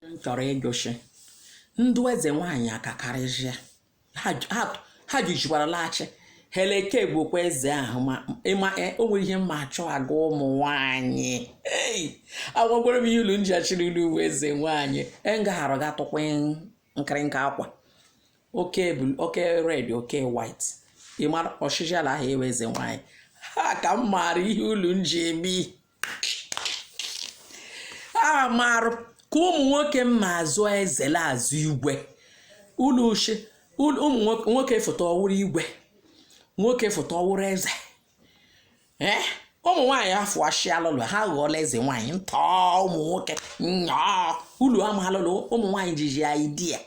m chọrọ ịjụshị ndụ eze nwaanyị akakarịzịa ha ju- ha- ha jijikwara laghachi heleke bụkwa eze ahụ ma ịma e- o nwere ihe m ma achọ agwa ụmụ nwaanyị ei agwagwara m ihe ulu nji achịrị ulu uwe eze nwaanyị ngaghara ga tụkwa nkịrịnka akwa oke blue oke red oke white ị mara ọchịchị ala ahụ awụ eze nwaanyị ha ka m maara ihe ulu nji eme ihe a marụ ka ụmụ nwoke ma azọ eze la azọ igwe ulu ushi ulu- ụmụ nwoke- nwoke fụta ọ wụrụ igwe nwoke fụta ọ wụrụ eze ee ụmụ nwaanyị afụashịalụlụ ha ghọọla eze nwaanyị ntọ ụmụ nwoke nnyaa ulu amalụlụ ụmụ nwaanyị jiji idea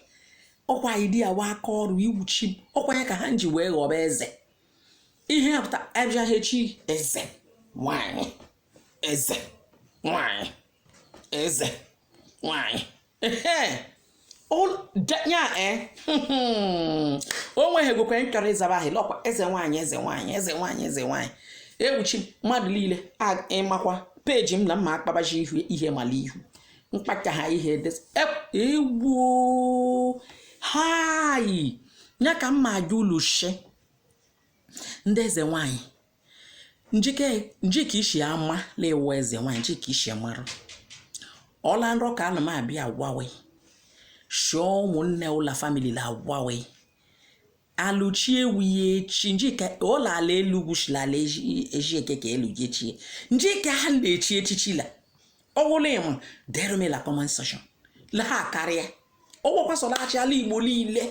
ọkwa idea wa aka ọrụ iwuchi m ọkwa ya ka ha ji wee ghọba eze ihe ya pụta abịagha echi eze nwanyị eze nwanyị eze nwanyị ehe Ol- da- ya e o nweghị egwekwe nchọrọ ịzaba ahụ lọkwa eze nwaanyị eze nwaanyị eze nwaanyị eze nwaanyị iwuchi mmadụ niile a- ị makwa page m na m ma akpabaji ihu ihe mala ihu mkpacha ha ihe dị egwu hai ya ka m ma ajụ ulu shi ndị eze nwanyị njike njike ishi ama la-awụ eze nwanyị njike ishi mara ọla nrọ ka ana m abịa agwawe shụọ ụmụnne ụla family la agwawe aluchi ewu ya echi njike ụlọ ala elu gwuchila ala eji eke ka elu jechie njike ha na-echi echichi la ọwụla ị ma derụ m e la comment section la ha karịa ọgwọkwasọlaghachi ala igbo niile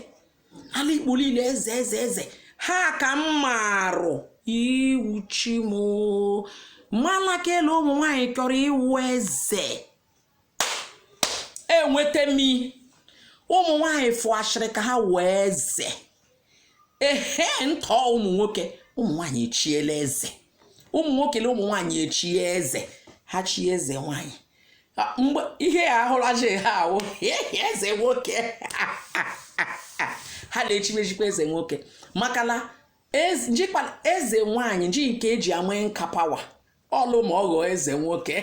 ala igbo niile eze eze eze ha ka m marụ iwuchi m mala kele ụmụ nwaanyị chọrọ ịwụ eze enweta m ụmụ nwanyị fụashịrị ka ha wụ eze ehe ntọ ụmụ nwoke ụmụ nwanyị echiela eze ụmụ nwoke na ụmụ nwanyị echie eze ha chie eze nwanyị mgbe ihe ya ahụlaji ha awụ eze nwoke ha na-echimechikwa eze nwoke maka na jikwa eze nwanyị ji nke eji ama nka power ọlụ ma ọ ghọọ eze nwoke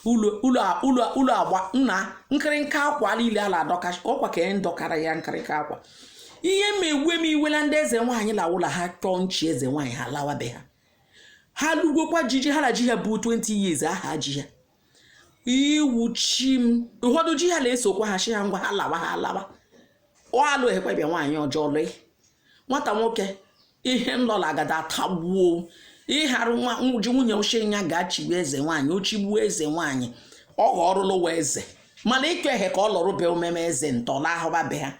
ulu agba nna nkịrịnka akwa niile a la-adọka ọkwa ka e dọkara ya nkịrịnka akwa ihe ma ewe m iwe la ndị eze nwaanyị la wụ la ha chọọ nchi eze nwaanyị ha lawabe ha ha lugokwa jiji ha na ji ha bụ 20 years a ha ji ha iwuchi m ụfọdụ ji ha na-esokwa ha shi ha ngwa ha lawa ha lawa ọ alụ ekwebịa nwaanyị ọjọọ lụị nwata nwoke ihe nlọla agada atagbuo ịharụ nwa ji nwunye ochie ya ga-achịgbu eze nwaanyị o chigbuo eze nwaanyị ọ ghọọrụlụwa eze mana ịkọ ehe ka ọ lọrụbe omeme eze ntọla ahụba be ha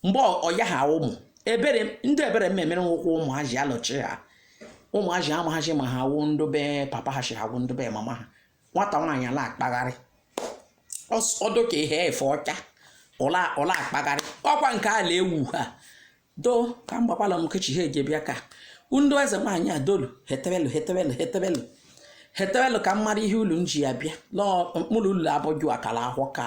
mgbe ọya ha ụmụ ebere ndị ebere m emere nwụkwụ ụmụazị alọchi ha ụmụazị amaghazị ma ha wụ ndị be papa ha si ha wụ ndị be mama ha nwata nwaanyị a la-akpagharị ọ dụ ka ihe efe ọcha ọ la-akpagharị ọkwa nke ala ewu ha doo ka m gbakwala m kechi ha eje bịa ka ndị eze nwaanyị a dolu hetebelu hetebelu hetebelu hetebelu ka m mara ihe ulu m ji ya bịa n'ọkpụrụ ulu abụju akara ahụ ka